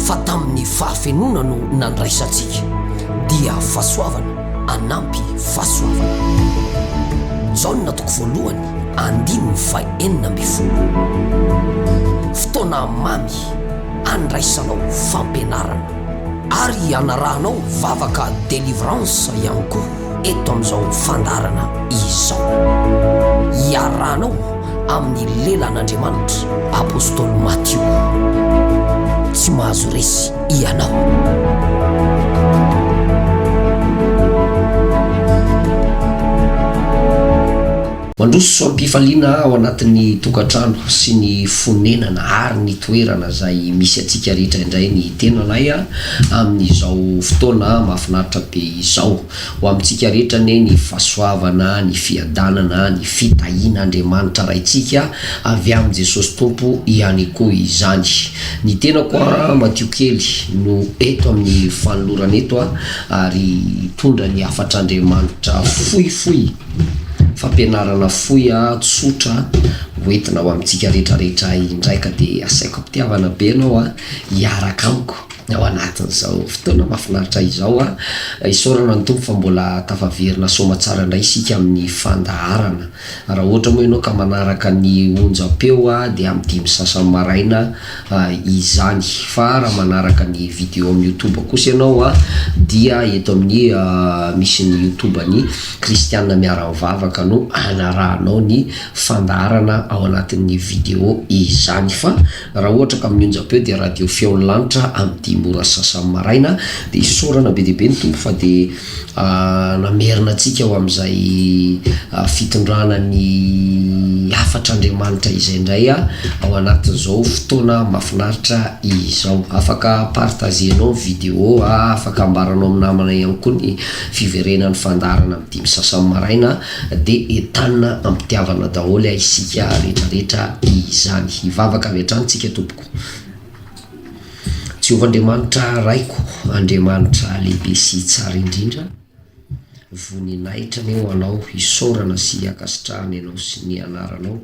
Fa tamin'ny fahafenoana no nandraisantsika, dia fahasoavana anampy fahasoavana. Jaona toko voalohany andininy faha enina ambin'ny folo. Fotoana mamy andraisanao fampianarana. Ary anarahanao vavaka delivrance ihany koa. eto amin'izao fandaharana izao. Iarahanao amin'ny lelan'Andriamanitra Apostoly Matio. Tsy mahazo resy ianao. Mandroso soam-pifaliana ao anatin'ny tokantrano sy ny fonenana ary ny toerana izay misy antsika rehetra indray ny tenanay a! amin'izao fotoana mahafinaritra be izao. Ho amintsika rehetra anie ny fahasoavana, ny fiadanana, ny fitahiana Andriamanitra Raintsika avy amin'i Jesosy Tompo ihany koa izany. Ny tenako a! madio kely no eto amin'ny fanolorana eto a! ary hitondra ny hafatr'Andriamanitra fohifohy. fampianarana fohy tsotra hoentina ho amintsika rehetra rehetra indray ka dia asaiko am-pitiavana be ianao hiaraka amiko ao anatin'izao fotoana mahafinaritra izao an! Isaorana ny Tompo fa mbola tafaverina soamatsara indray isika amin'ny fandaharana. Raha ohatra moa ianao ka manaraka ny onjam-peo dia amin'ny dimy sy sasany maraina, izany fa raha manaraka ny video amin'ny youtube kosa ianao a dia eto amin'ny misy ny youtube an'i kristianina miara-mivavaka no anarahanao ny fandaharana ao anatin'ny video izany fa raha ohatra ka amin'ny onjam-peo dia radio feon'ny lanitra amin'ny dimy ora sasany maraina dia isaorana be dia be ny tompo fa dia Namerina antsika ho amin'izay fitondrana ny hafatr'Andriamanitra izay indray ao anatin'izao fotoana mahafinaritra izao. Afaka partager-nao ny video, afaka ambaranao amin'ny namana ihany koa ny fiverenan'ny fandaharana amin'ny dimy sy sasany maraina dia entanina am-pitiavana daholo isika rehetra rehetra izany. Hivavaka avy hatrany isika tompoko. Jehovah Andriamanitra Raiko, Andriamanitra lehibe sy tsara indrindra, voninahitra anie ho Anao, isaorana sy ankasitrahana Ianao sy ny Anaranao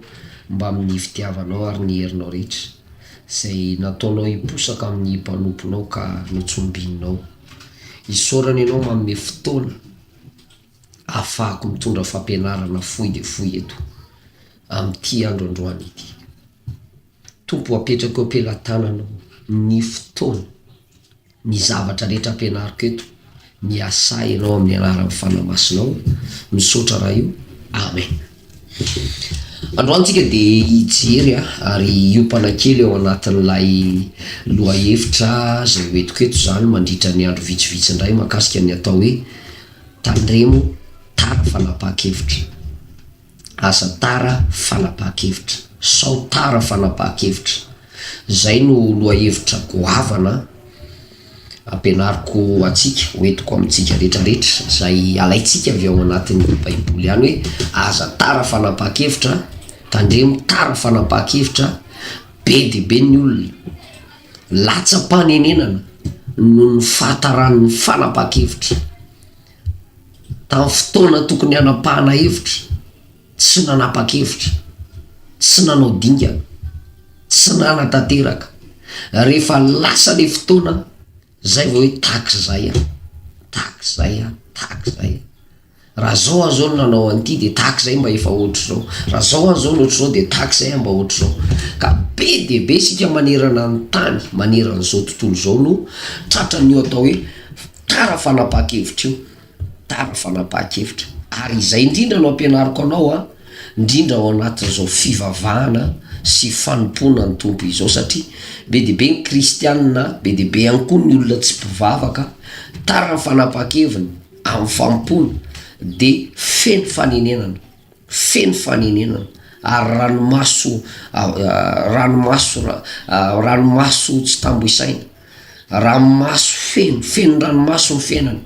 mbamin'ny fitiavanao ary ny herinao rehetra, izay nataonao hiposaka amin'ny mpanomponao ka notsombininao. Isaorana Ianao manome fotoana ahafahako mitondra fampianarana fohy dia fohy eto, amin'ity andro androany ity. Tompo apetrako eo am-pelatananao ny fotoana, ny zavatra rehetra ampianariko eto, miasà Ianao amin'ny anaran'ny Fanahy Masinao, misaotra raha io, Amen. Androany tsika dia hijery ary hiompana kely ao anatin'ilay lohahevitra izay hoentiko eto izany mandritra ny andro vitsivitsy indray mahakasika ny atao hoe tandremo tara fanapahan-kevitra. Aza tara fanapahan-kevitra. Sao tara fanapahan-kevitra. Izay no lohahevitra goavana ampianariko antsika, hoentiko amintsika rehetrarehetra, izay alaintsika avy ao anatin'ny Baiboly ihany hoe, aza tara fanapahan-kevitra, tandremo tara fanapahan-kevitra, be dia be ny olona latsa-panenenana noho ny fahataran'ny fanapahan-kevitra. Tamin'ny fotoana tokony hanapahana hevitra, tsy nanapa-kevitra, tsy nanao dingana, tsy nanatanteraka. Rehefa lasa ilay fotoana, izay vao hoe tak'izay aho, tak'izay aho, tak'izay aho. Raha izao aho izao no nanao an'ity dia tak'izay mba efa ohatr'izao, raha izao aho izao no ohatr'izao dia tak'izay aho mba ohatr'izao. Ka be dia be isika manerana ny tany, manerana izao tontolo izao no tratran'io atao hoe. Tara fanapaha-kevitra io, tara fanapaha-kevitra. Ary izay indrindra no ampianariko anao an, indrindra ao anatin'izao fivavahana sy fanompoana ny Tompo izao, satria be dia be ny kristianina, be dia be ihany koa ny olona tsy mpivavaka, tara ny fanapaha-keviny amin'ny fanompoana dia feno fanenenana. feno fanenenana ary ranomaso ranomaso ranomaso tsy tambo isaina, ranomaso feno feno ranomaso ny fiainana,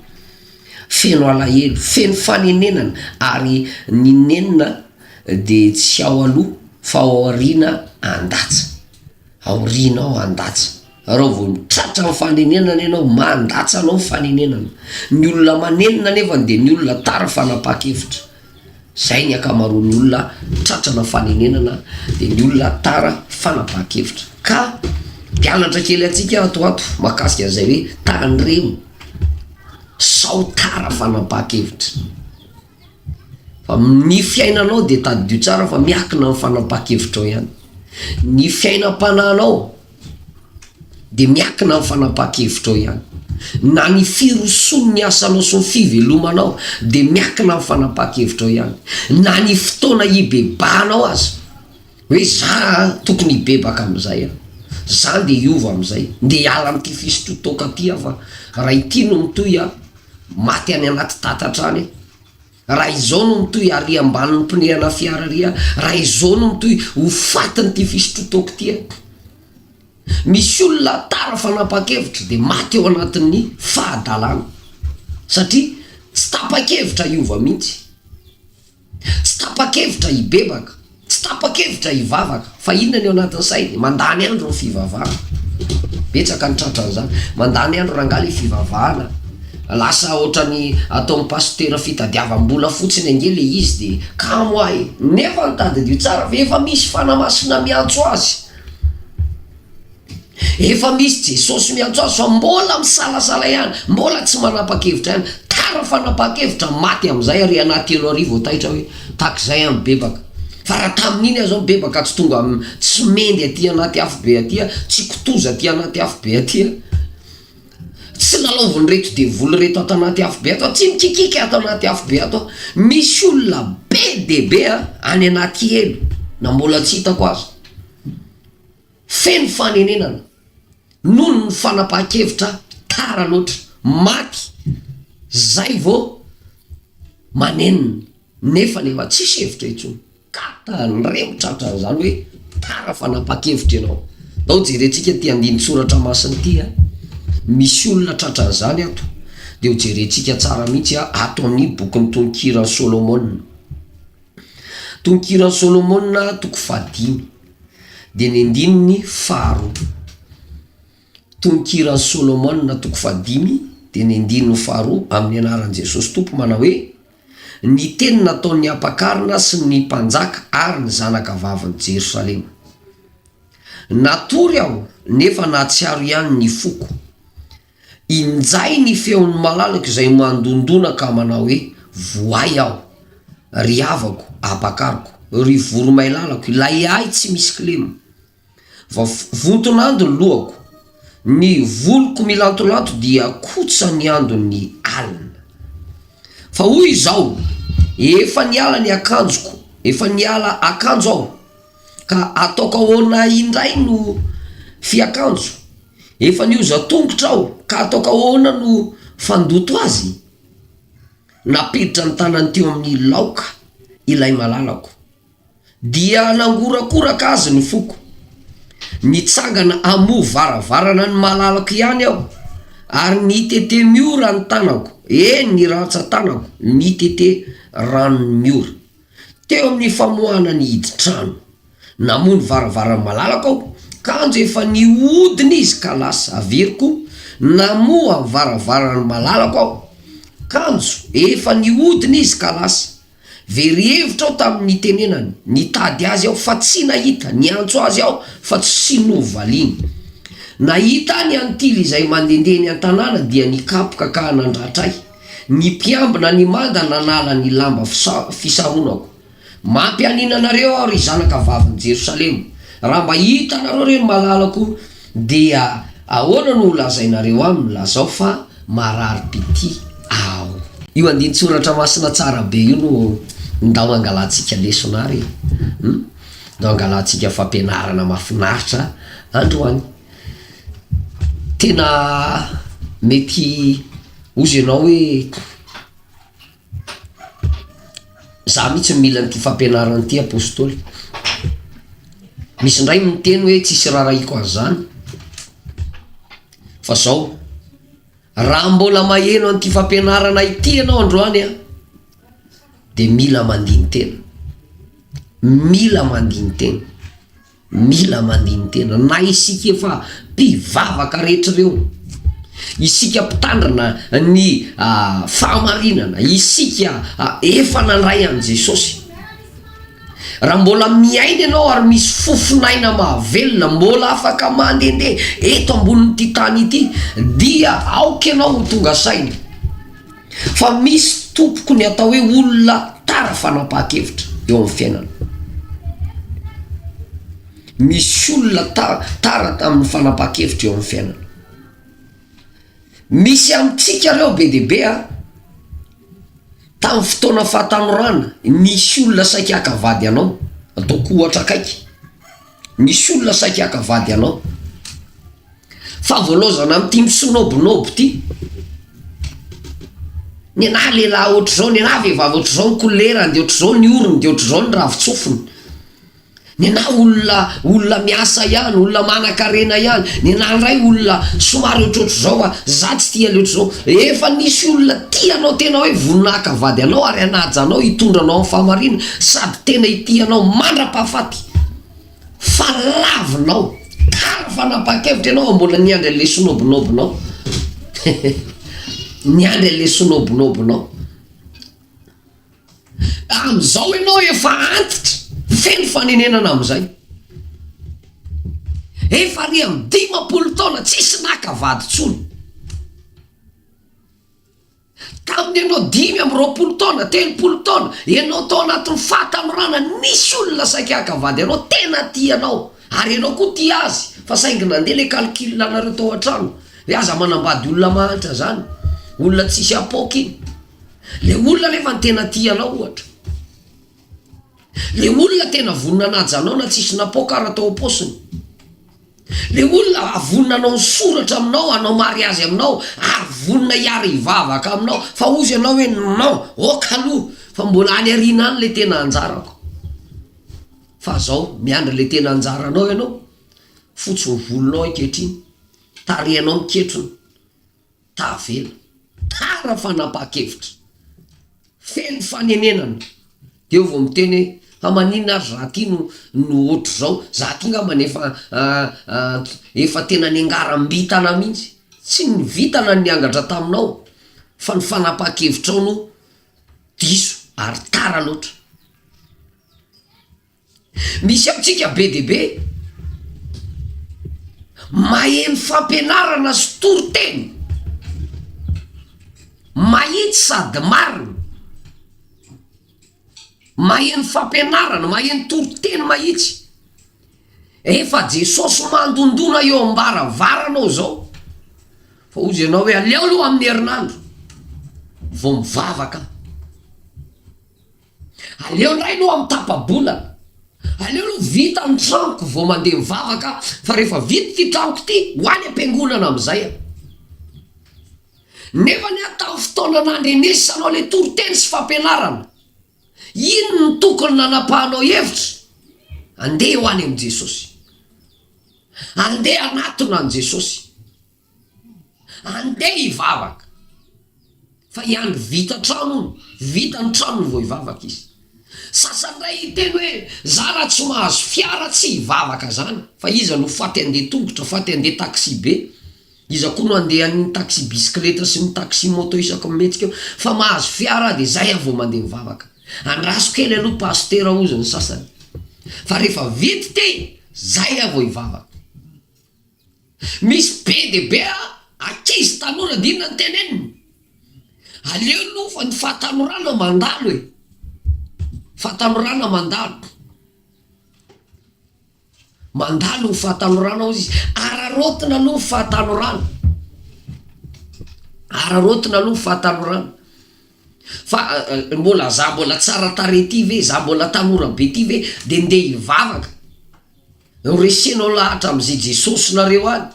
feno alahelo, feno fanenenana ary ny nenina dia tsy ao aloha fa ao aoriana andatsa. Aorianao handatsa. Raha vao mitratra ny fanenenana ianao, mandatsa anao ny fanenenana. Ny olona manenina anefany dia ny olona tara fanapa-kevitra. Izay ny ankamaroan'ny olona tratrana fanenenana dia ny olona tara fanapahan-kevitra. Ka mpianatra kely antsika ato ho ato mahakasika an'izay hoe tandremo sao tara fanapahan-kevitra. Fa ny fiainanao dia tadidio tsara fa miakina amin'ny fanapaha-kevitrao ihany. Ny fiainam-panahinao dia miakina amin'ny fanapaha-kevitrao ihany. Na ny firosoan'ny asanao sy ny fivelomanao dia miakina amin'ny fanapaha-kevitrao ihany. Na ny fotoana hibebahanao aza. Hoe za tokony hibebaka amin'izay an! Za ndeha hiova amin'izay, ndeha hiala amin'ity fisotro toaka ity aho fa raha ity no mitohy an, maty any anaty tatatra any aho. Raha izao no mitohy, aria ambany ny pneu ana fiara ary aho, raha izao no mitohy, ho fatin'ity fisotro toaka ity aho. Misy olona tara fanapa-kevitra dia maty ao anatin'ny fahadalana satria tsy tapa-kevitra hiova mihitsy. Tsy tapa-kevitra hibebaka, tsy tapa-kevitra hivavaka, fa inona ny ao anatin'ny sainy? Mandany andro ny fivavahana, betsaka ny tratra an'izany, mandany andro rangahy le fivavahana, lasa ohatran'ny ataon'ny pasitera fitadiavam-bola fotsiny ange le izy de kamo ahy, nefa tadidio tsara ve efa misy fanahy masina miantso azy? Efa misy Jesosy miantso azy fa mbola misalasala ihany, mbola tsy manapa-kevitra ihany. Tara fanapahan-kevitra, maty amin'izay ary ianà telo ary vao taitra hoe tak'izay aho mibebaka. Fa raha tamin'iny aho izao mibebaka tsy tonga am, tsy mendy aty anaty afo be aty aho, tsy kitoza aty anaty afo be aty aho, tsy lalaovin'ireto devoly ireto ato anaty afo be ato aho, tsy mikikika ato anaty afo be ato aho. Misy olona be dia be an, any anaty helo, na mbola tsy hitako aza. Feno fanenenana noho ny fanapahan-kevitra tara loatra. Maty zay vao manenina nefany efa tsisy hevitra intsony ka tandremo tratran'izany hoe tara fanapahan-kevitra ianao. Zao jerentsika ity andinin-tsoratra masina ity a, misy olona tratran'izany ato dia ho jerentsika tsara mihitsy a, ato amin'ny bokin'ny tononkiran'i Solomona. Tononkiran'i Solomona toko fahadimy. dia ny andininy faharoa. Tononkiran'i Solomona toko fahadimy dia ny andininy faharoa amin'ny anaran'i Jesosy Tompo manao hoe, Ny teny nataon'ny ampakarina sy ny mpanjaka ary ny zanakavavin'i Jerosalema. Natory aho, nefa nahatsiaro ihany ny foko. Injay ny feon'i Malalaka izay mandondona ka manao hoe, Voay aho, ry havako, ampakariko, ry voromailalako, ilay ahy tsy misy kilema. Vao vonton'ando ny lohako, ny voloko milantolanto dia kotsa ny andon'ny alina. Fa hoy izao, Efa niala ny akanjoko, efa niala akanjo aho, ka ataoko ahoana indray no fiakanjo? Efa nioza tongotra aho ka ataoko ahoana no fandoto azy? Nampiditra ny tanany teo amin'ny laoka ilay malalako. Dia nangorakoraka azy ny foko. Nitsangana hamoha varavarana ny malalako ihany aho ary nitete miora ny tanako, eny ny rantsan-tanako nitete ranon'ny ora. Teo amin'ny famoahana ny hidin-trano, namoha ny varavarany malalako aho, kanjo efa nihodina izy ka lasa. Averiko, Namoha ny varavarany malalako aho, kanjo efa nihodina izy ka lasa. Very hevitra aho tamin'ny nitenenany. Nitady azy aho fa tsy nahita, niantso azy aho fa tsy novaliany. Nahita ahy ny antily izay mandehandeha eny an-tanàna dia nikapoka ka nandratra ahy. Ny mpiambina an'i Mada nanala ny lamba fisaronako. Mampianiana anareo aho ry zanaka vavin'i Jerosalema, raha mba hitanareo ireny malalako dia ahoana no holazainareo aminy? Lazao fa marary pitia aho. Io andinin-tsoratra masina tsara be io no ndao hangalantsika lesona ary e! Hum! Ndao hangalantsika fampianarana mahafinaritra androany. Tena mety. Ozy enao hoe za mitsy no mila an'ity fampianarana ity apostoly. Misy ndray miteny hoe tsisy rarahiko an'zany. Fa zao, raha mbola maheno an'ity fampianarana ity enao androany an, de mila mandini-tena, mila mandini-tena. Mila mandini-tena na isika efa mpivavaka rehetra ireo, isika mpitandrina ny fahamarinana, isika efa nandray an'i Jesosy. Raha mbola miaina ianao ary misy fofon'aina mahavelona, mbola afaka mandehandeha eto ambonin'ity tany ity dia aoka ianao ho tonga saina. Fa misy tompoko ny atao hoe olona tara fanapahan-kevitra eo amin'ny fiainana. Misy olona tara tamin'ny fanapahan-kevitra eo amin'ny fiainana. Misy amintsika ireo be dia be a, tamin'ny fotoana fahatanorana, nisy olona saika haka vady anao, ataoko ohatra akaiky. Misy olona saika haka vady anao. Favolaozana amin'ity misonobinoby ity. Nenah lehilahy ohatr'izao, nenah vehivavy ohatr'izao ny kolerany, dia ohatr'izao ny orony, dia ohatr'izao ny ravin-tsofiny. Nenah olona olona miasa ihany, olona manan-karena ihany. Nenah indray olona somary ohatrohatr'izao fa izaho tsy tia le ohatr'izao. Efa nisy olona tia anao tena hoe vonona haka vady anao ary hanaja anao, hitondra anao amin'ny fahamarinana, sady tena hitia anao mandra-pahafaty. fa lavinao kara fanapakevitra ianao vao mbola niandry anle sonobinobinao niandry anle sonobinobinao amizao ianao efa antitra feno fanenenana amizay efa ary amy dimapolo taona tsisy naka vady tsony. Tamin'ny ianao dimy amby roapolo taona, telopolo taona, ianao tao anatin'ny fahatanorana, nisy olona saika haka vady anao, tena tia anao, ary ianao koa tia azy, fa saingy nandeha ilay calcul anareo tao an-trano, hoe aza manambady olona mahantra izany, olona tsisy apoaka iny, ilay olona nefa ny tena tia anao ohatra, ilay olona tena vonona hanaja anao na tsisy napoaka ara tao am-paosiny. Le olona vonona hanao ny soratra aminao, hanao mariazy aminao, ary vonona hiara hivavaka aminao, fa hozy ianao hoe non, ok aloha, fa mbola any arina any le tena anjarako, fa zao miandry le tena anjaranao ianao, fotsy ny volonao ankehitriny, tarehinao miketrona. Tavela. Tara fanapaha-kevitra. Feno fanenenana. Dia eo vao miteny hoe, fa maninona ary za ty no no ohatr'izao, za ty ngamba no efa efa tena niangaram-bintana mihitsy. Tsy ny vintana no niangatra taminao fa ny fanapaha-kevitrao no diso ary tara loatra. Misy amintsika be dia be maheno fampianarana sy toriteny mahitsy sady marina, maheno fampianarana, maheno toriteny mahitsy, rehefa Jesosy mandondona eo am-baravaranao zao fa ozy ianao hoe aleo aloha amin'ny herinandro vao mivavaka aho. Aleo indray aloha mitapa-bolana, aleo aloha vita ny tranoko vao mandeha mivavaka aho, fa rehefa vita ity tranoko ity, ho any am-piangonana amin'izay aho. Nefa anie tamin'ny fotoana nandrenesanao ilay toriteny sy fampianarana, inona no tokony nanapahanao hevitra? Andeha ho any amin'i Jesosy. Andeha hanatona an'i Jesosy. Andeha hivavaka fa i Andry vita trano hono, vita ny tranony vao hivavaka izy. Sasany ndray hiteny hoe za raha tsy mahazo fiara tsy hivavaka zany fa iza no faty handeha tongotra, faty handeha taxi-be, iza koa no handeha an'ny taxi bisikileta sy ny taxi moto isaky ny mihetsika eo, fa mahazo fiara aho de zay aho vao mandeha mivavaka. Andraso kely aloha pasitera hozy ny sasany fa rehefa vita ity zay aho vao hivavaka. Misy be dia be ankizy tanora dia inona no teneniny? Aleo aloha fa ny fahatanorana mandalo e! Fahatanorana mandalo, mandalo ny fahatanorana hozy izy, araraotina aloha ny fahatanorana, araraotina aloha ny fahatanorana fa mbola za mbola tsara tarehy ty ve, za mbola tanora be ty ve de ndeha hivavaka. Noresenao lahatra amzay Jesosy nareo any,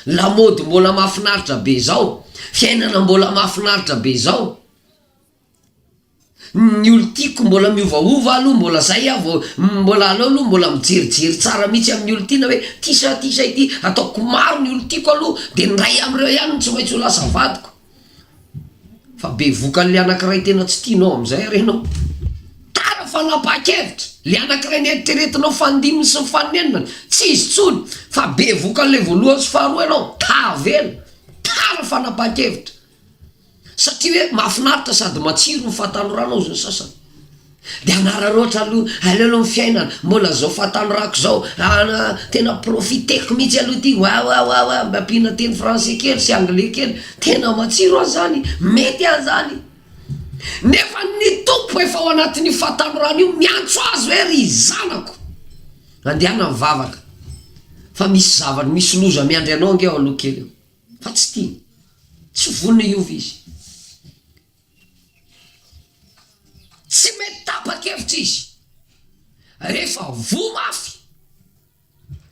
lamody mbola mafinaritra be zao, fiainana mbola mafinaritra be zao, ny olon-tiako mbola miovaova aloha mbola zay aho vao mbola aleo aloha mbola mijerijery tsara mitsy amin'ny olon-tiana hoe ty sa ty sa ity, ataoko maro ny olon-tiako aloha de ny ray amreo ihany no tsy maintsy ho lasa vadiko. Fa be vokany le anakiray tena tsy tianao amin'izay ary ianao. Tara fanapahan-kevitra! Le anakiray neritreretinao fandiminy sy ny fanenina, tsy izy intsony, fa be vokany le voalohany sy faharoa ianao, tavela! Tara fanapahan-kevitra! Satria hoe mahafinaritra sady matsiro ny fahatanoranao hozy ny sasany. Dia hanararaotra aloha, aleo aloha ny fiainana, mbola zao fahatanorako zao, an tena profiteko mihitsy aloha ity, wawawawa, mba ampiana teny français kely sy anglais kely, tena matsiro an zany, mety an zany, nefa ny Tompo efa ao anatin'io fahatanorana io miantso azy hoe ry zanako, andehana mivavaka fa misy zavatra, misy loza miandry anao ange ao aloha kely ao, fa tsy tiany, tsy vonona hiova izy. Tsy mety tapa-kevitra izy, rehefa voa mafy,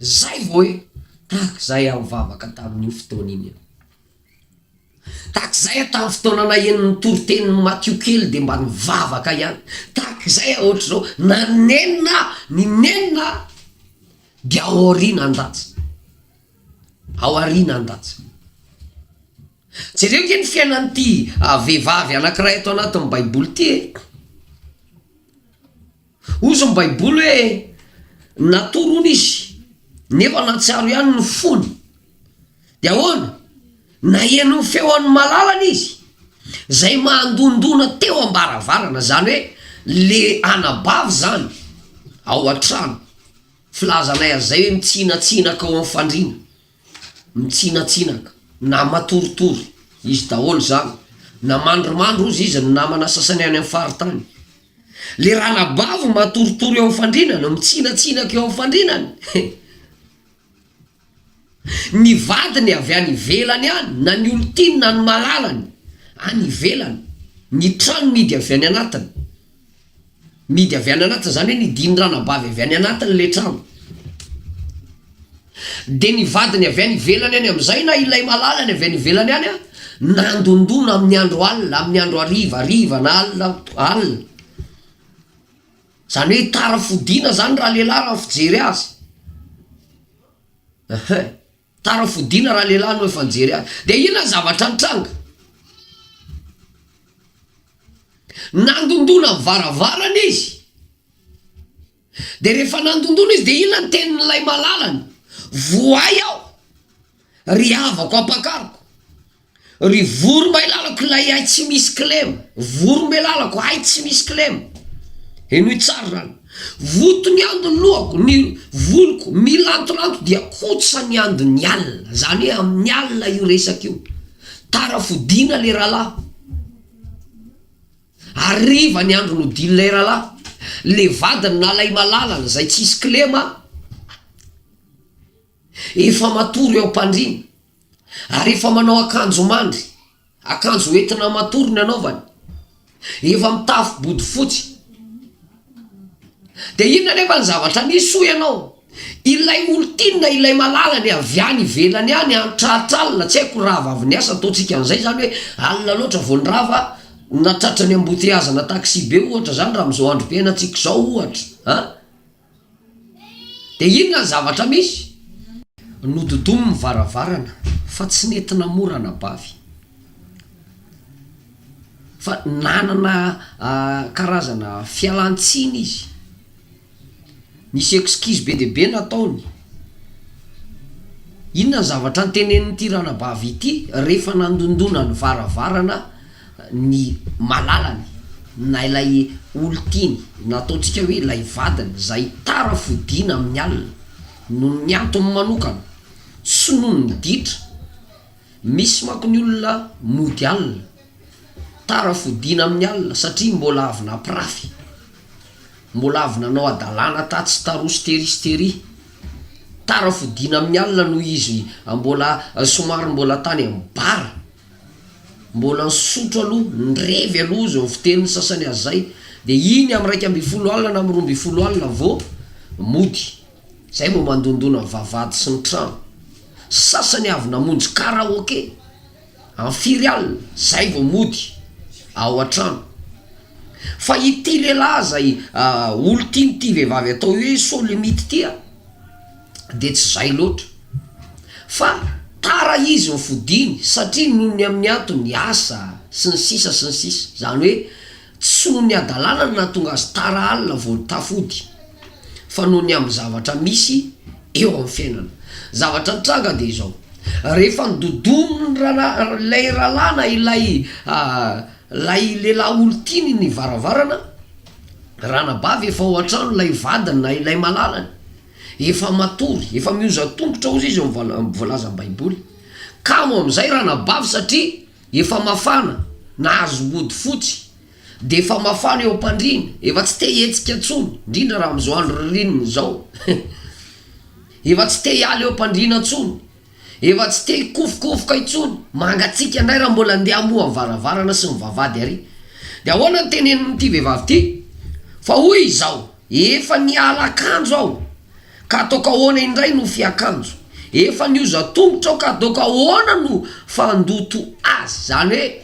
izay vao hoe tahaka izay aho nivavaka tamin'io fotoana iny aho. Tahaka izay aho tamin'ny fotoana naheno ny toritenin'i Matio kely dia mba nivavaka ihany. Tahaka izay aho ohatr'izao, na nenina aho, ny nenina dia ao aoriana an-danja, ao aoriana an-danja. Jereo ange ny fiainan'ity vehivavy anankiray ato anatin'ny baiboly ity e! Hozy ny baiboly hoe natory hono izy nefa nahatsiaro ihany ny fony, de ahoana? Naheno ny feon'ny malalany izy zay mandondona teo ambaravarana, zany hoe le anabavy zany ao an-trano, filazanay an'izay hoe mitsinatsinaka ao amin'ny fandriana. Mitsinatsinaka na matoritory izy daholo izany, na mandrimandry hozy izy ny namana sasany any amin'ny faritany. Le ranabavy matoritory eo amin'ny fandrinana, mitsinatsinaka eo amin'ny fandrinana e! Ny vadiny avy any ivelany any, na ny olon-tiany na ny malalany any ivelany, ny tranony idy avy any anatiny. mihidy avy any anaty zany hoe nidiny ranabavy avy any anatiny le trano de ny vadiny avy any ivelany any amizay na ilay malala ny avy any ivelany any a nandondona amin'ny andro alina amin'ny andro hariva hariva na alina alina zany hoe tara fodiana zany raha lehilahy raha ny fijery azy ehe Tara fodiana raha lehilahy no efa nijery azy. Dia inona ny zavatra nitranga? Nandondona ny varavarana izy. Dia rehefa nandondona izy dia inona ny tenin'ilay malalany? Voay aho, ry havako ampakariko. Ry voromahilalako ilay hay tsy misy kilema, voromelalako hay tsy misy kilema, henoy tsara izany, voto ny ando ny lohako, ny voloko milantolanto dia kotsa ny ando ny alina, izany hoe amin'ny alina io resaka io, tara fodiana le rahalahy, hariva ny andro nodian'ilay rahalahy, le vadiny nalahy malalana izay tsisy kilema efa matory eo am-pandriana. Ary efa manao akanjo mandry, akanjo entina matory ny anaovany, efa mitafy bodofotsy. Dia inona anefa ny zavatra nisy hoy ianao? Ilay olon-tiana, ilay malala ny avy any ivelany any, nitratra alina, tsy haiko rava avy niasa, ataontsika an'izay izany hoe alina loatra vao nirava, na tratran'ny embouteillage-na taxi be ohatra izany raha amin'izao androm-piainantsika izao ohatra an! Dia inona ny zavatra misy? Nododomy ny varavarana fa tsy nety namory anabavy. Fa nanana karazana fialan-tsiny izy. Nisy excuse be dia be nataony. Inona ny zavatra notenenin'ity ranabavy ity rehefa nandondona ny varavarana? ny malalany na ilay olon-tiany na ataontsika hoe ilay vadiny izay tara fodiana amin'ny alina noho ny antony manokana sy noho ny ditra, misy manko ny olona mody alina, tara fodiana amin'ny alina satria mbola avy nampirafy, mbola avy nanao hadalana tatsy taroa sy tery sy tery, tara fodiana amin'ny alina noho izy mbola somary mbola tany amin'ny bar. Mbola nisotro aloha, nirevy aloha izy, nivoteny ny sasany aza zay, de iny amin'ny iraika ambin'ny folo alina na amin'ny roa ambin'ny folo alina vao mody, zay vao mandondona ny vavahady sy ny trano, sasany avy namonjy karaoke amin'ny firy alina zay vao mody ao an-trano, fa ity lehilahy zay olon-tian'ity vehivavy atao hoe solimity ty a. dia tsy izay loatra fa tara izy ny fodiany satria noho ny amin'ny antony asa sy ny sisa sy ny sisa izany hoe tsy noho ny hadalana no nahatonga azy tara alina vao tafody fa noho ny amin'ny zavatra misy eo amin'ny fiainana zavatra nitranga dia izao rehefa nododon'ny rala- ilay ralana ilay ilay lehilahy olon-tiany ny varavarana ranabavy efa ao an-trano ilay vadiny na ilay malalany Efa matory, efa mihozan-tongotra hozy izy eo amin'ny voalazan'ny Baiboly. Kamo amin'izay ranabavy satria efa mafana, nahazo ody fotsy, dia efa mafana eo am-pandriana, efa tsy te hihetsika intsony, indrindra raha amin'izao andro ririnina izao, efa tsy te hiala eo am-pandriana intsony. Efa tsy te hikofokofoka intsony, mangatsiaka indray raha mbola andeha hamoha ny varavarana sy ny vavahady ary. Dia ahoana no tenenin'ity vehivavy ity? Fa hoy izao, Efa niala akanjo aho, ka ataoko ahoana indray no fiakanjo? Efa nihoza tongotra aho, ka ataoko ahoana no fandoto azy? Izany hoe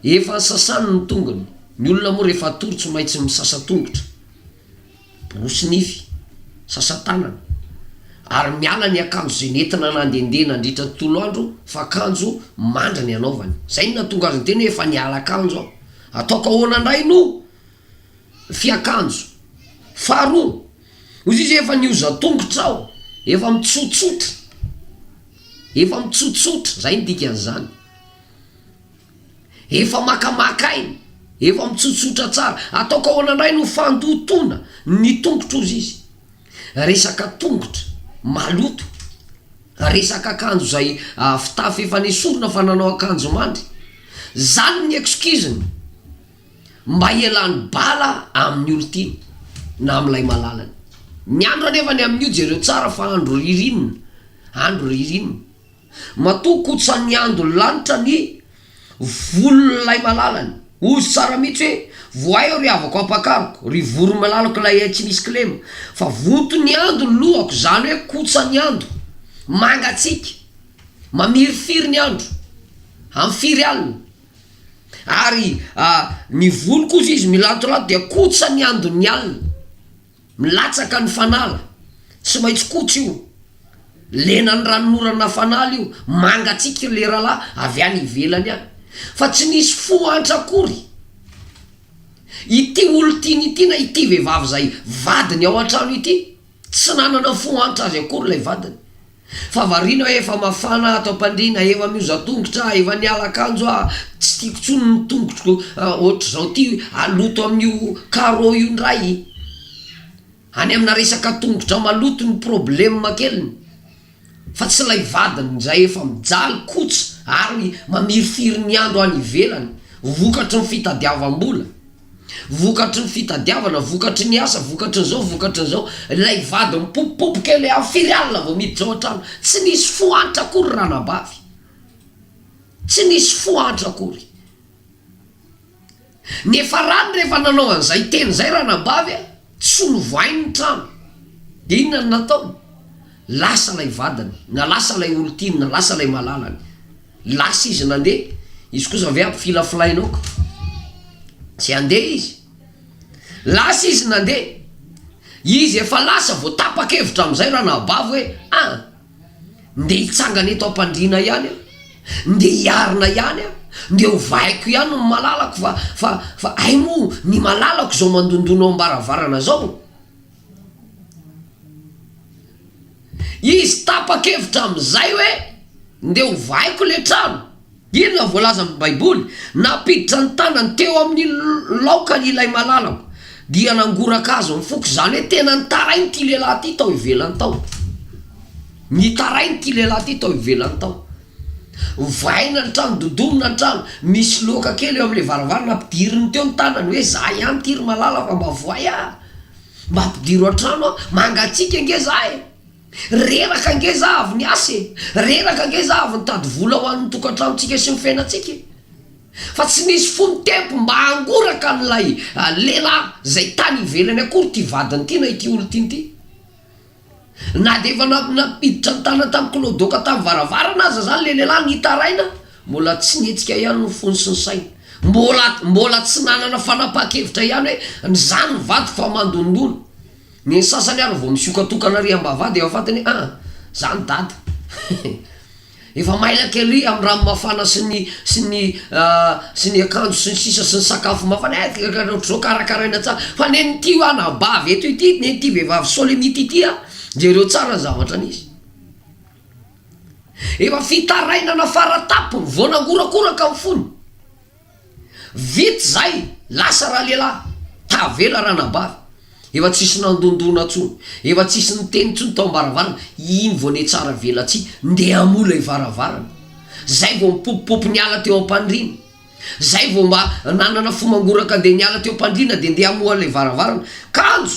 efa nosasany ny tongony. Ny olona moa rehefa hatory tsy maintsy misasa tongotra. Borosy nify, sasa-tanana, ary miala ny akanjo izay nentina nandehandeha nandritra ny tontolo andro fa akanjo mandry ny anaovany. Izay no nahatonga azy niteny hoe efa niala akanjo aho. Ataoko ahoana indray no fiakanjo? Faharoa, hoy izy hoe efa nihoza tongotra aho, efa mitsotsotra, efa mitsotsotra, izay no dikan'izany. Efa makamaka aina, efa mitsotsotra tsara. Ataoko ahoana indray no fandotoana ny tongotro hozy izy. Resaka tongotra maloto, resaka akanjo izay fitafy efa nesorina fa nanao akanjo mandry. Zany ny excuse-ny mba hialany bala amin'ny olon-tiany na amin'ilay malalany. Ny andro anefa ny amin'io jereo tsara fa andro ririnina, andro ririnina. Matoa kotsan'ny andon'ny lanitra ny volon'ilay malalany. Hozy tsara mihitsy hoe, Voaio ry havako ampakariko, ry voron'ny malalako ilay hay tsy misy kilema. Fa vonton'ny ando ny lohako, izany hoe kotsan'ny ando. Mangatsiaka, mamirifiry ny andro, amin'ny firy alina. Ary ny volo kosa izy milantolanto dia kotsan'ny andon'ny alina. Milatsaka ny fanala, tsy maintsy koto io, lena ny ranonorana fanala io, mangatsiaka io leralahy avy any ivelany any, fa tsy nisy fo antra akory ity olo tiany ity na ity vehivavy zay vadiny ao antrano ity, tsy nanana fo antra azy akory lay vadiny. Fa variana hoe efa mafana ato am-pandriana, efa mihoza tongotra aho, efa niala akanjo aho, tsy tiako intsony ny tongotroko ohatr'izao ity haloto amin'io carreau io indray. Any amina resaka tongotra maloto ny problème keliny fa tsy ilay vadiny izay efa mijaly kotsa ary mamirifiry ny andro any ivelany vokatry ny fitadiavam-bola. Vokatry ny fitadiavana, vokatry ny asa, vokatry ny zao, vokatry ny zao, ilay vady mipopopopoka eo le firy alina vao miditra ao an-trano, tsy nisy fohantra akory ranabavy, tsy nisy fohantra akory. Niafarany rehefa nanao an'izay teny izay ranabavy a, tsy novohainy ny trano, de inona no nataony, lasa ilay vadiny na lasa ilay olon-tiany na lasa ilay malalany. Lasa izy nandeha, izy kosa ve ampifilafilaina aoka, tsy handeha izy. Lasa izy nandeha, izy efa lasa vao tapa-kevitra amin'izay Ranabavy hoe ah! ndeha hitsangana eto am-pandriana ihany aho, ndeha hiarina ihany aho, ndeha ovaiko ihany ny malalako fa fa fa hay moa ny malalako izao mandondona ao am-baravarana izao. Izy tapa-kevitra amin'izay hoe, Ndeha hovaiko ilay trano. Inona no voalazan'ny Baiboly? Nampiditra ny tanany teo amin'ny laokany ilay malalako, dia nangoraka azy ny foko, izany hoe tena nitaraina ity lehilahy ity tao ivelany tao. Nitaraina ity lehilahy ity tao ivelany tao. Vaina ny trano, dodonina ny trano, misy loaka kely eo amin'ilay varavarana, ampidiriny teo ny tanany hoe, Izaho ihany ity ry malala fa mba voay aho. Mba ampidiro an-trano aho, mangatsiaka ange za e! Reraka ange za avy niasa e! Reraka ange za avy nitady vola ho an'ny tokantranontsika sy ny fiainantsika e! Fa tsy nisy fony tempo mba hangoraka an'ilay lehilahy izay tany ivelany akory ity vadiny ity na ity olona tiany ity. Na dia efa nampiditra ny tanany tamin'ny kilaodaoka tamin'ny varavarana aza izany ilay lehilahy nitaraina, mbola tsy nihetsika ihany ny fony sy ny sainy. Mbola mbola tsy nanana fanapahan-kevitra ihany hoe ny zany ny vadiko fa mandondona. Ny sasany ary vao misokatokana ary am-bavahady efa fantany hoe an! zany dada. Efa mailaka ery amin'ny rano mafana sy ny sy ny sy ny akanjo sy ny sisa sy ny sakafo mafana eh ohatr'izao karakaraina tsara fa nen'ity hoa anabavy eto ity nen'ity vehivavy solimity ity a jereo tsara ny zavatra nisy efa fitarainana fara tampony vao nangorakoraka ny fony. Vita zay, lasa ralehilahy, tavela ranabavy, efa tsisy nandondona tsony, efa tsisy niteny tsony tao ambaravarana, iny vao nihatsara velatsihy ndeha hamoha ilay varavarana, zay vao mipopopopy niala teo ampandriana, zay vao mba nanana fo mangoraka dia niala teo ampandriana dia ndeha hamoha ilay varavarana, kanjo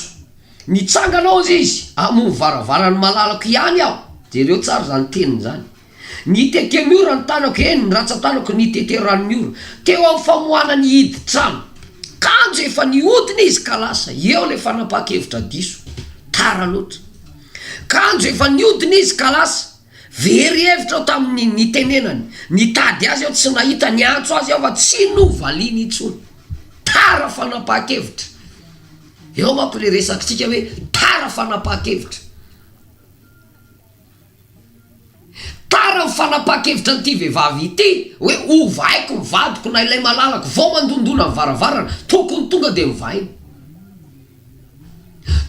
nitsangana ao izy hamoha varavarany malalako ihany aho, jereo tsara zany teniny zany. Nitete ny ora ny tanako, eny, ny ratsan-tanako nitete ranon'ny ora. Teo amin'ny famoahana ny hidin-trano. Kanjo efa nihodina izy ka lasa. Eo ilay fanapahan-kevitra diso. Tara loatra. Kanjo efa nihodina izy ka lasa. Very hevitra aho tamin'ny nitenenany. Nitady azy aho tsy nahita, niantso azy aho fa tsy novaliany intsony. Tara fanapahan-kevitra. Eo manko ilay resakintsika hoe tara fanapahan-kevitra. Tara ny fanapahan-kevitra an'ity vehivavy ity hoe ovaiko ny vadiko na ilay malalako vao mandondona ny varavarana, tokony tonga dia novaina.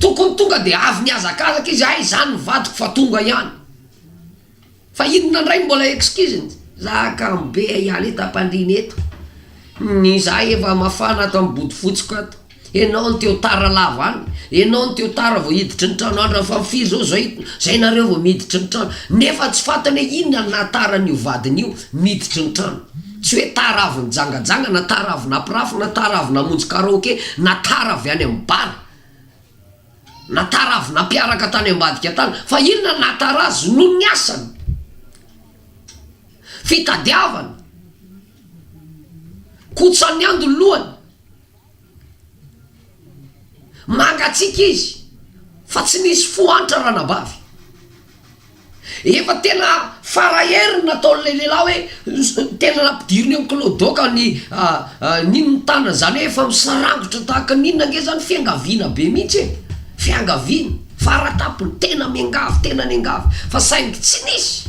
Tokony tonga dia avy nihazakazaka izy, hay izany ny vadiko fa tonga ihany. Fa inona indray no mbola excuse-ny? Za kamo be ahialy eto ampandriana eto, ny za efa mafana ato amin'ny bodofotsiko ato. Enao no teo tara lava any, enao no teo tara vao hiditry ny trano andra fa firy zao zay zay nareo vao miditry ny trano nefa tsy fantany hoe inona no nahatara an'io vadiny io miditry ny trano, tsy hoe tara avy nijangajanga na tara avy napirafy na tara avy namonjy karaoke na tara avy any amin'ny bar na tara avy nampiaraka tany ambadika tany fa inona no nahatara azy noho ny asany, fitadiavany, kotsaniando ny lohany. Mangatsiaka izy fa tsy nisy fo antra ranabavy. Efa tena fara hery ny nataon'ilay lehilahy hoe tena nampidiriny eo am-kilao doka ny nino ny tanany izany hoe efa misarangotra tahaka ny inona ange izany fiangaviana be mihitsy e! Fiangaviana, fara tampony, tena miangavy, tena niangavy fa saingy tsy nisy.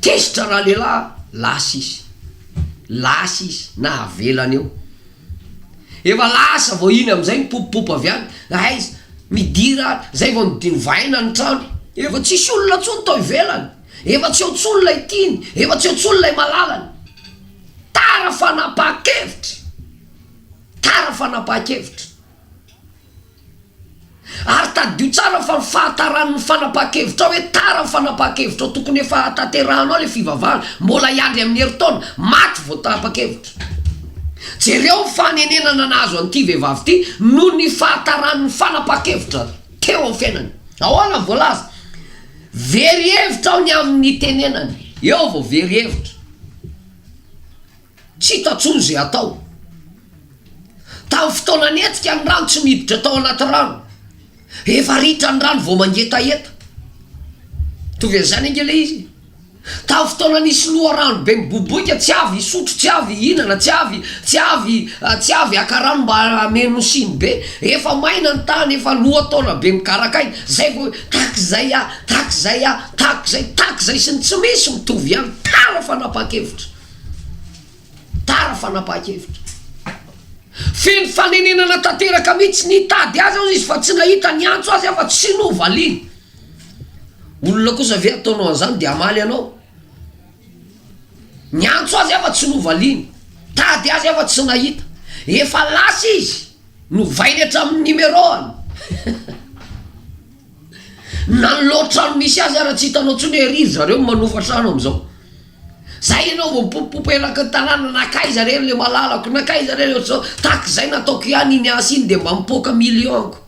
Tezitra ralehilahy, lasa izy. Lasa izy, nahavelany eo. Efa lasa vao iny amin'izay nipopopopo avy any, aiza, midira ary, izay vao novaina ny trano. Efa tsisy olona intsony tao ivelany, efa tsy eo intsony ilay tiany, efa tsy eo intsony ilay malalany. Tara fanapahan-kevitra! Tara fanapahan-kevitra! Ary tadidio tsara fa ny fahataran'ny fanapahan-kevitrao hoe tara ny fanapahan-kevitrao tokony efa hahatanterahanao ilay fivavahana, mbola hiandry amin'ny herintaona, maty vao tapa-kevitra. Jereo ny fanenenana nahazo an'ity vehivavy ity noho ny fahataran'ny fanapahan-kevitra teo amin'ny fiainany. Ahoana ny voalaza? Very hevitra aho ny amin'ny nitenenany. Eo vao very hevitra. Tsy hita tsony izay atao. Tamin'ny fotoana nihetsika ny rano tsy miditra tao anaty rano. Efa ritra ny rano vao mangetaheta. Mitovy an'izany ange ilay izy e. Tamin'ny fotoana nisy loharano be miboiboika tsy avy hisotro, tsy avy hihinana, tsy avy, tsy avy, tsy avy haka rano mba hameno siny be. Efa maina ny tany, efa lohataona be mikaraka aina. Izay vao hoe tahaka izay aho, tahaka izay aho, tahaka izay, tahaka izay sy ny tsy misy mitovy ihany. Tara fanapakevitra. Tara fanapahakevitra. Feno fanenenana tanteraka mihitsy. Nitady azy aho izy fa tsy nahita, niantso azy aho fa tsy novaliany. Olona kosa ve ataonao an'izany dia hamaly anao? Niantso azy aho fa tsy novaliany. Tady azy aho fa tsy nahita. Efa lasa izy, novainy hatramin'ny numéro-ny. Na ny loha trano misy azy ara tsy hitanao tsony ery ry zareo manofa trano amizao. Zay ianao vao mipopopopo elaky ny tanàna nakaiza re le malalako nakaiza re le otrzao takzay nataoko ihany iny asa iny de mba mipoaka million ko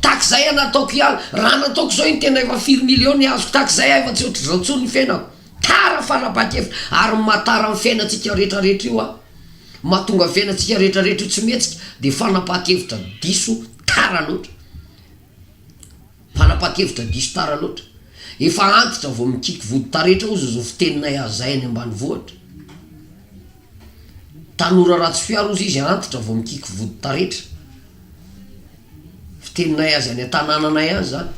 takzay an nataoko ihany raha nataoko zao iny tena efa firy million ny azoko takzay aho efa tsy otrzao tsony ny fiainako tara fanapakevitra ary ny maha tara ny fiainantsika retra retra io an mahatonga ny fiainantsika retra retra io tsy mihetsika de fanapakevitra diso Tara loatra. Mpanapa-kevitra diso tara loatra. Efa antitra vao mikiky vody taretra ozy zo fiteninay hazay any ambanivohitra. Tanora Ratsifiharo ozy izy antitra vao mikiky vody taretra. Fiteninay azy any an-tanananay any zany.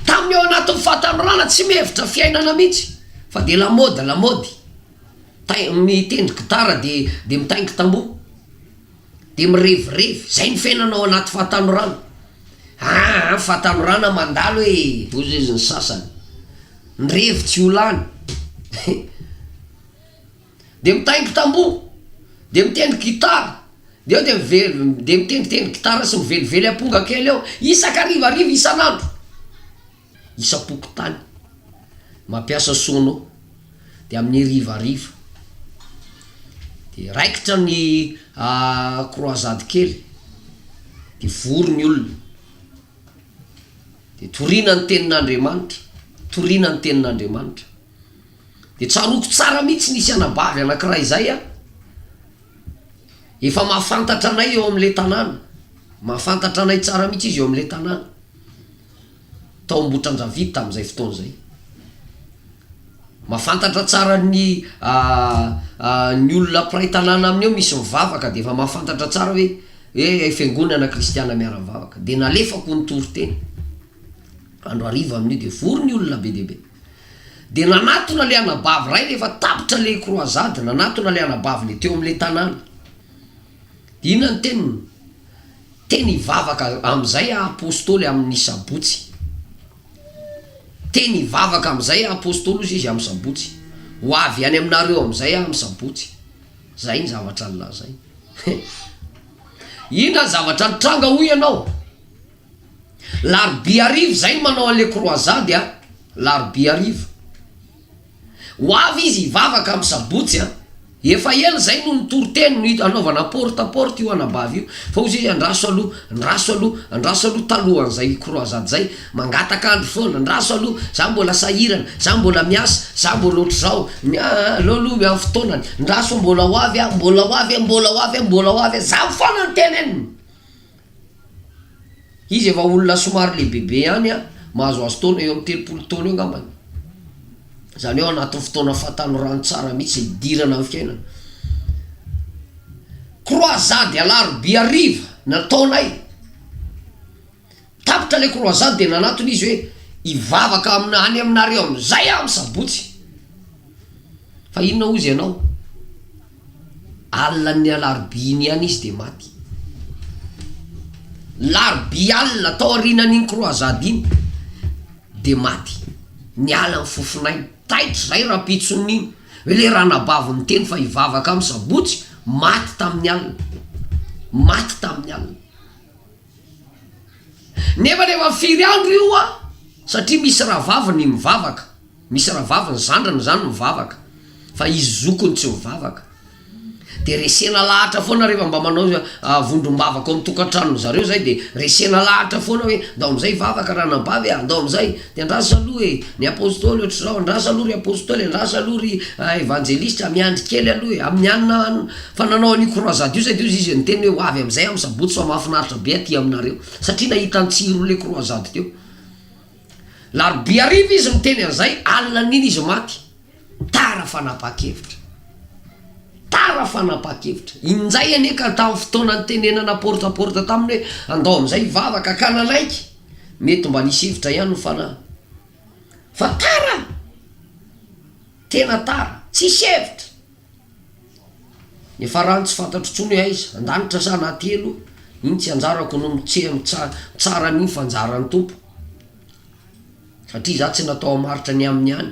Tamin'ny ao anatin'ny fahatanorana tsy mihevitra fiainana mihitsy fa dia lamaody lamaody. Tay- mitendry gitara dia dia mitaingin-tamboho. Dia mirevirevy. Izay ny fiainana ao anaty fahatanorana. Aa ny fahatanorana mandalo e! Hoy izy ny sasany. Ny revy tsy ho lany. Dia mitaingo tamboho. Dia mitendry gitara. Dia eo dia mive- dia mitendritendry gitara sy mivelively amponga kely eo, isaka harivariva, isan'andro. isam-pokontany mampiasa sono dia amin'ny hariva hariva dia raikitra ny croisade kely dia vory ny olona dia torina ny tenin'Andriamanitra torina ny tenin'Andriamanitra dia tsaroako tsara mihitsy nisy anabavy anankiray izay a efa mahafantatra anay eo amin'ilay tanàna mahafantatra anay tsara mihitsy izy eo amin'ilay tanàna tao Ambohitrandravidy tamin'izay fotoana izay. Mahafantatra tsara ny ny olona mpiray tanàna aminy eo misy mivavaka dia efa mahafantatra tsara hoe hoe fiangonana kristiana miara-mivavaka dia nalefako nitory teny andro hariva amin'io dia vory ny olona be dia be. Dia nanatona le anabavy ray rehefa tapitra le croisade, nanatona le anabavy le teo am'le tanàna, dia inona ny teniny? Teny hivavaka amin'izay aho Apostoly amin'ny Sabotsy Teny hivavaka amin'izay aho Apostoly hozy izy amin'ny Sabotsy Ho avy any aminareo amin'izay aho amin'ny Sabotsy Izay ny zavatra nolazainy Inona ny zavatra nitranga hoy ianao? Larobia hariva izay ny manao an'ilay kroazady a Larobia hariva. Ho avy izy hivavaka am sabotsy an! Efa ela izay no nitory teny no hanaovana porte à porte io anabavy io fa hozy izy andraso aloha, andraso aloha, andraso aloha talohan'izay croisade izay, mangataka andro foana, andraso aloha, za mbola sahirana, za mbola miasa, za mbola ohatr'izao, ny a a aleo aloha miha fotoanany, andraso mbola ho avy an, mbola ho avy an, mbola ho avy an, mbola ho avy an, za foana no teneniny. Izy efa olona somary lehibebe ihany an, mahazoazo taona eo amin'ny telopolo taona eo angambany. Izany hoe ao anatin'ny fotoana fahatanorany tsara mihitsy, hidirana amin'ny fiainana. Croisade alarobia hariva no nataonay. Tapitra ilay croisade dia nanatona izy hoe hivavaka any aminareo amin'izay aho amin'ny sabotsy. Fa inona hozy ianao? Alin'ny alarobia iny ihany izy dia maty. Larobia alina tao aorianan'iny croisade iny dia maty. Niala ny fofon'ainy. Taitra izay rahampitson'iny iny. Hoe ilay ranabavy niteny fa hivavaka amin'ny sabotsy, maty tamin'ny alina. Maty tamin'ny alina. Nefa rehefa firy andro io an? Satria misy rahavaviny mivavaka. Misy rahavavy ny zandriny zany mivavaka fa izy zokiny tsy mivavaka de resena lahatra foana rehefa mba manao vondrom-bavaka ao amin'ny tokan-tranony zareo zay de resena lahatra foana hoe ndao amizay hivavaka ranabavy a, ndao amizay de andraso aloha e, ny apostoly ohatr'izao, andraso aloha ry apostoly, andraso aloha ry evanjelista, miandry kely aloha e, amin'ny alina any fa nanao an'io croisade io zay de hoy izy niteny hoe ho avy amizay amin'ny sabotsy fa mahafinaritra be aty aminareo satria nahita ny tsiro le croisade teo. Larobia hariva izy niteny an'izay, alinan'iny izy maty. Tara fanapahan-kevitra. Tara fanapahan-kevitra. Injay anie ka tamin'ny fotoana nitenenana porte à porte taminy hoe andao amin'izay hivavaka ka nanaiky. Mety mba nisy hevitra ihany ny fanahy. Fa tara! Tena tara. Tsisy hevitra. Ny farany tsy fantatro intsony hoe aiza, an-danitra sa anaty helo, iny tsy anjarako no mitseha mitsara an'iny fa anjaran'ny Tompo, satria za tsy natao hamaritra ny aminy ihany,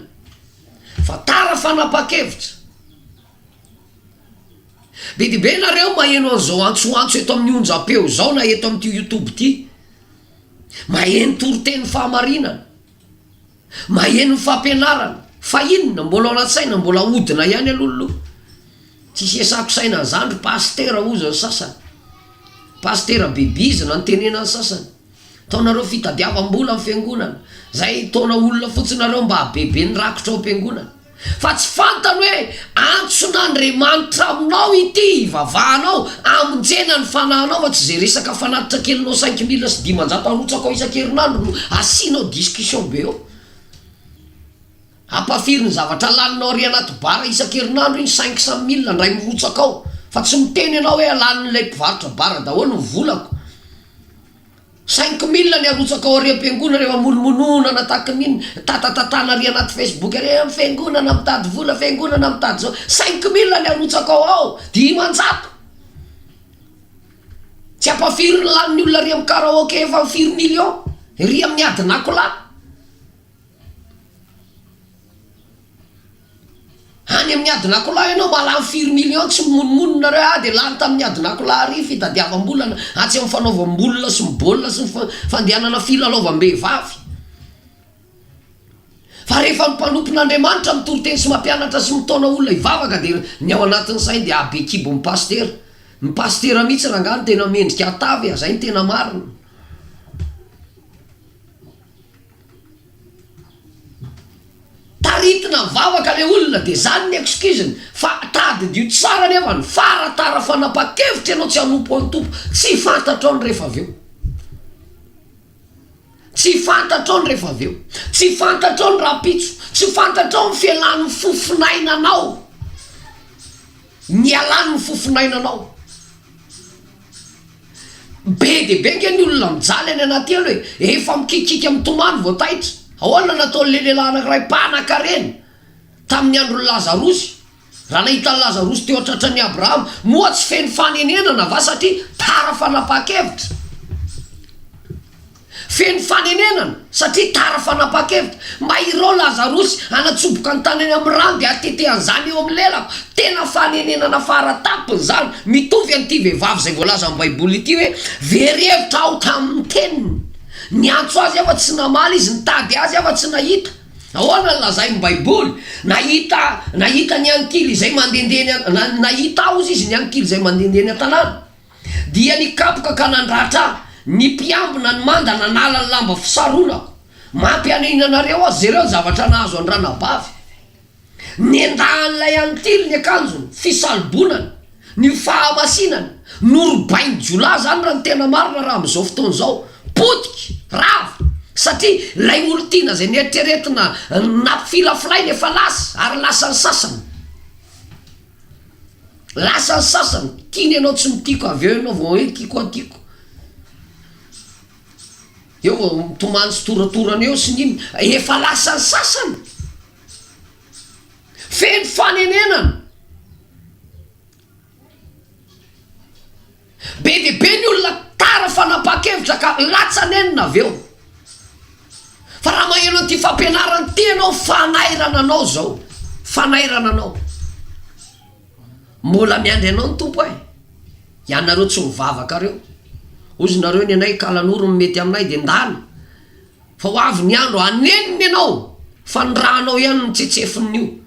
fa tara fanapa-kevitra, be dia be nareo maheno an'izao antsoantso eto amin'ny onjam-peo izao na eto amin'ity youtube ity, maheno toriteny fahamarinana. Maheno ny fampianarana fa inona? Mbola ao anaty saina mbola ahodina ihany aloha ny loha. Tsy sesako saina an'izany ry Pasitera hozy ny sasany. Pasitera be bizina no tenena ny sasany. Ataonareo fitadiavam-bola ny fiangonana. Zay taona olona fotsiny nareo mba habebe ny rakitra ao am-piangonana. Fa tsy fantany hoe antson'Andriamanitra aminao ity hivavahanao, amonjena ny fanahinao fa tsy izay resaka fanatitra kelinao cinq mille sy dimanjato arotsakao isan-kerinandro no asianao discussion be eo. Ampafiry ny zavatra laninao ary anaty bar isan-kerinandro iny cinq cent mille ndray mirotsaka ao fa tsy miteny ianao hoe lanin'ilay mpivarotra bar daholo ny volako. Saingy mila ny arotsaka ao ariam-piangonana eo amonomonoana na tahaka ny mitatatantana ary anaty facebook ary hoe fiangonana mitady vola, fiangonana mitady izao. Saingy mila ny arotsaka ao ao dimanjato. Tsy ampahafirin'ny lanin'ny olona ary amin'ny karaoke efa firy millions ery amin'ny adin'akola. Any amin'ny adin'akola ianao mba lany firy millions tsy mimonomonona reo ady e, lany tamin'ny adin'akola ary fitadiavam-bolana atsy amin'ny fanaovam-bolona sy ny baolina sy ny fandehanana filalaovam-behivavy fa rehefa ny mpanompon'Andriamanitra mitory teny sy mampianatra sy mitaona olona hivavaka dia ny ao anatin'ny sainy dia habe kibon'ny pasitera, ny pasitera mihintsy rangah no tena mendrika hatavy e, zay no tena marina. Taritina ny vavaka le olona de zany ny excuse-ny fa tadidio tsara anefa ny fara tara fanapakevitra ianao tsy hanompo an'i Tompo tsy fantatrao ny refa avy eo tsy fantatrao ny refa avy eo tsy fantatrao ny rahampitso tsy fantatrao ny fialan'ny fofonainanao ny hialan'ny fofonainanao Be dia be ange ny olona mijaly any anaty elo e! Efa mikikiaka mitomany vao taitra. Ahoana no nataon'ilay lehilahy anankiray mpanankarena tamin'ny andron'i Lazarosy, raha nahita an'i Lazarosy teo an-tratran'i Abrahama? Moa tsy feno fanenenana va satria tara fanapahan-kevitra? Feno fanenenana satria tara fanapakevitra mba hirao lazarosy hanatsoboka ny tanany amin'ny rano dia hatete an'izany eo amin'ny lelako. Tena fanenenana fara tampony izany. Mitovy an'ity vehivavy izay voalazan'ny baiboly ity hoe very hevitra aho tamin'ny teniny. Niantso azy aho fa tsy namaly izy, nitady azy aho fa tsy nahita. Ahoana no lazain'ny baiboly? Nahita nahita ny ankily izay mandehandeha eny an, nahita aho hozy izy ny ankily izay mandehandeha eny an-tanàna. Dia nikapoka ka nandratra ahy ny mpiambina ny manda nanala ny lamba fisaronako. Mampihanihina anareo aho, jereo ny zavatra nahazo an-dRanabavy. Nendahan'ilay antily ny akanjony, fisalobonany, ny fahamasinany, norobain-jiolahy izany raha ny tena marina raha amin'izao fotoana izao. Potika, rava, satria ilay olon-tiana izay neritreretina nampifilafilaina efa lasa ary lasan'ny sasany. Lasa ny sasany, tiany ianao tsy mitiko avy eo ianao vao hoe tiko an tiko, eo vao mitomany sy toratorana eo sy ny inona, efa lasa ny sasany, feno fanenenana. Be dia be ny olona tara fanapakevitra ka latsa nenina avy eo. Fa raha maheno an'ity fampianarana ity ianao fanairana anao zao, fanairana anao. Mbola miandry anao ny Tompo eh! Ianareo tsy mivavaka reo, ozy nareo nenay kala noro ny mety aminay de ndana, fa ho avy ny andro hanenina ianao fa ny ranao ihany no tsetsefin'io.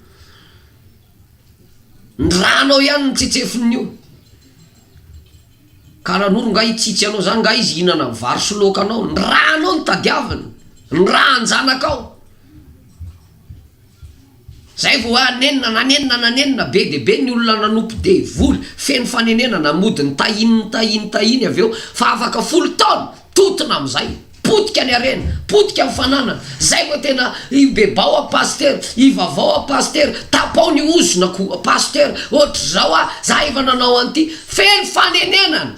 Ny rano ao ihany no tsetsefiny io, kara noro nga hitsitsy anao zany nga izy hihinana vary sy laoka anao, ny ra nao no tadiaviny, ny rahan-janakao, zay vao hoe hanenina, nanenina, nanenina, be dia be ny olona nanompo devoly, feno fanenenana, mody nitahiny, nitahiny, nitahiny avy eo, fa afaka folo taona. Totona amizay. Potika ny harena. Potika ny fananana. Zay vao tena ibebao a Pasteur. Ivavao a Pasteur. Tapao ny ozona ko a Pasteur. Otrzao a. Za efa nanao an'ity. Feno fanenenana.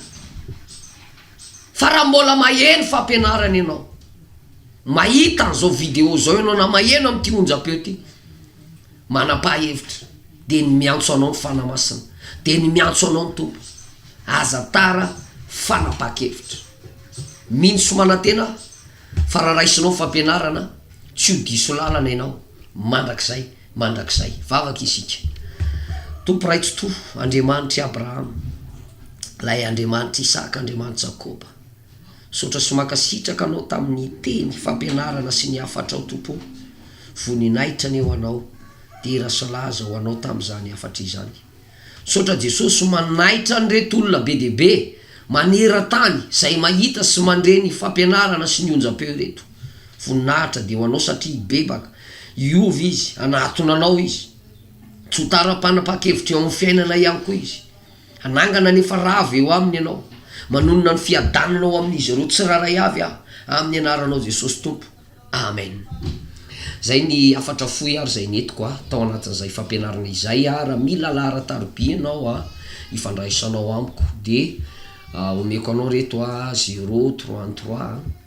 Fa raha mbola maheno fampianarana ianao. Mahita an'zao video zao ianao na maheno amin'ity onjam-peo ty. Manam-pahefitra, dia ny miantso anao ny Fanahy Masina, dia ny miantso anao ny Tompo. Aza tara fanapaha-kevitra. Mino sy manantena aho fa raha raisinao ny fampianarana, tsy ho diso lalana ianao mandrakizay mandrakizay. Vavaka isika. Tompo Ray Tsitoha, Andriamanitr'i Abrahama, Ilay Andriamanitr'i Isaka, Andriamanitr'i Jakoba. Misaotra sy mankasitraka anao tamin'ny teny fampianarana sy ny hafatrao Tompo ô! Voninahitra anie ho Anao! Dera sy laza ho Anao tamin'izany hafatra izany! Misaotra Jesosy manaitra an'ireto olona be dia be maneran-tany izay mahita sy mandre ny fampianarana sy ny onjam-peo ireto! Voninahitra dia ho Anao satria hibebaka hiova izy hanatona Anao izy! Tsy ho tara-panapa-kevitra eo amin'ny fiainana ihany koa izy! Hanangana anefa rava eo aminy ianao. Manonona ny fiadanana ho amin'izy ireo tsirairay avy aho, amin'ny anaranao Jesosy Tompo. Amen. Izay ny hafatra fohy ary izay nentiko a, tao anatin'izay fampianarana izay a, raha mila laharan-tarobia ianao a, ifandraisanao amiko, dia omeko anao reto a, zero, trois, ny trois a.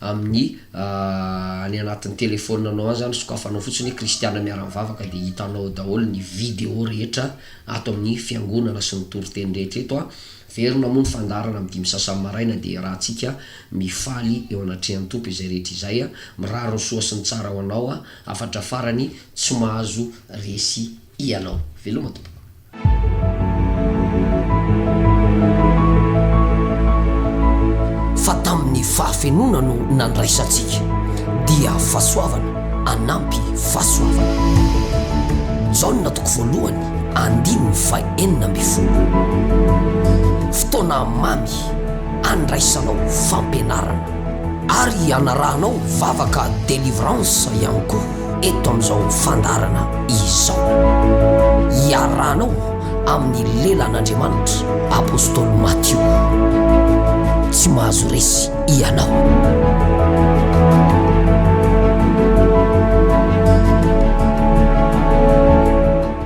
amin'ny any anatin'ny telefonanao any zany sokafanao fotsiny hoe kristiana miara mivavaka dia hitanao ao daholo ny video rehetra ato amin'ny fiangonana sy ny toriteny rehetra eto a verina moa ny fandaharana amin'ny dimy sasany maraina dia iarahantsika mifaly eo anatrehan'ny tompo izay rehetra izay a mirary ny soa sy ny tsara ho anao a hafatra farany tsy mahazo resy ianao. Veloma tompoko. Fa tamin'ny fahafenoana no nandraisantsika, dia fahasoavana anampy fahasoavana. Jaona toko voalohany andininy faha enina ambin'ny folo. Fotoana mamy andraisanao fampianarana. Ary anarahanao vavaka delivrance ihany koa. eto amin'izao fandaharana izao. Iarahanao amin'ny lelan'Andriamanitra Apostoly Matio. Tsy mahazo resy ianao.